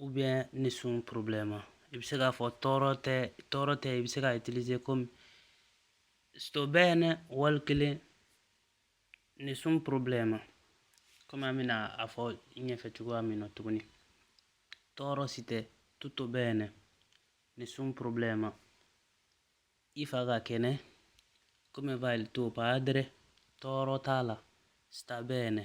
ou bien nessun problema i bɛ se k'a fɔ tɔɔrɔ tɛ tɔɔrɔ tɛ i bɛ se k'a utiliser comme sto bene wali kelen nessun problema comme an bɛna a fɔ ɲɛfɛ cogoya min na tuguni tɔɔrɔ si tɛ tutto bene nessun problema i fa ka kɛnɛ come va il tuo padre tɔɔrɔ t'a la sta bene